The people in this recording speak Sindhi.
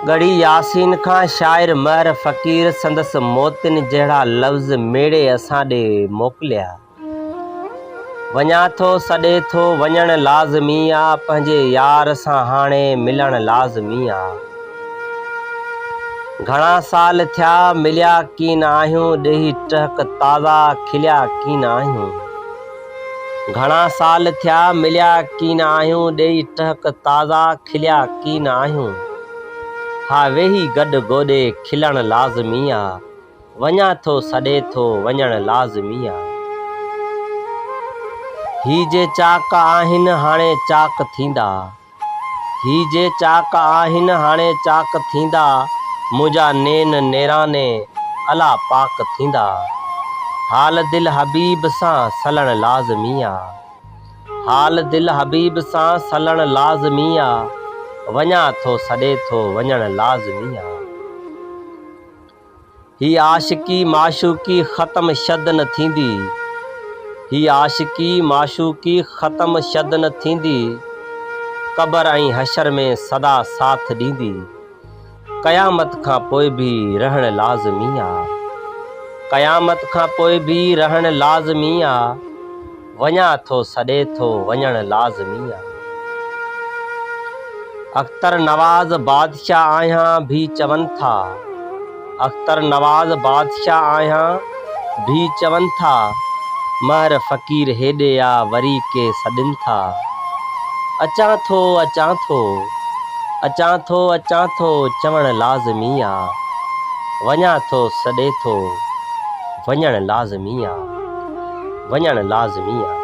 ڳڙهي ياسين کان شاعر مهر فقير سندس موتين جهڙا لفظ ميڙي اسان ڏي موڪليا. وڃان ٿو سڏي ٿو وڃڻ لازمي آ پنهنجي يار سان هاڻي ملڻ لازمي آ. گهڻا سال ٿيا مليا ڪين آهيون ڏيهي ٽهڪ تازا کليا ڪين آهيون. گهڻا سال ٿيا مليا ڪين آهيون ڏيئي ٽهڪ تازا کليا ڪين آهيون ها ويهي گڏ گوڏي کلڻ لازمي آ وڃان ٿو سڏي ٿو وڃڻ لازمي آ هي جي چاڪ آهن هاڻي چاڪ ٿيندا. هي جي چاڪ آهن هاڻي چاڪ ٿيندا منهنجا نين نيراني الا پاڪ ٿيندا حال دل حبيب سان سلڻ لازمي آ حال دل حبيب سان سلڻ لازمي آ وڃان ٿو سڏي ٿو وڃڻ لازمي آ. هي عاشقي معشوقي ختم شد نه ٿيندي هي عاشقي معشوقي ختم شد نه ٿيندي قبر ۽ حشر ۾ سدا ساٿ ڏيندي قيامت کان پوء به رهڻ لازمي آ قيامت کان پوء به رهڻ لازمي آ. وڃان ٿو سڏي ٿو وڃڻ لازمي آ. اختر نواز بادشاهه آهيان ڀي چون ٿا اختر نواز بادشاهه آهيان ڀي چون ٿا مهر فقير هيڏي آ وري ڪي سڏين ٿا اچان ٿو اچان ٿو اچان ٿو اچان ٿو چوڻ لازمي آ وڃان ٿو سڏي ٿو وڃڻ لازمي آ. وڃڻ لازمي آهي.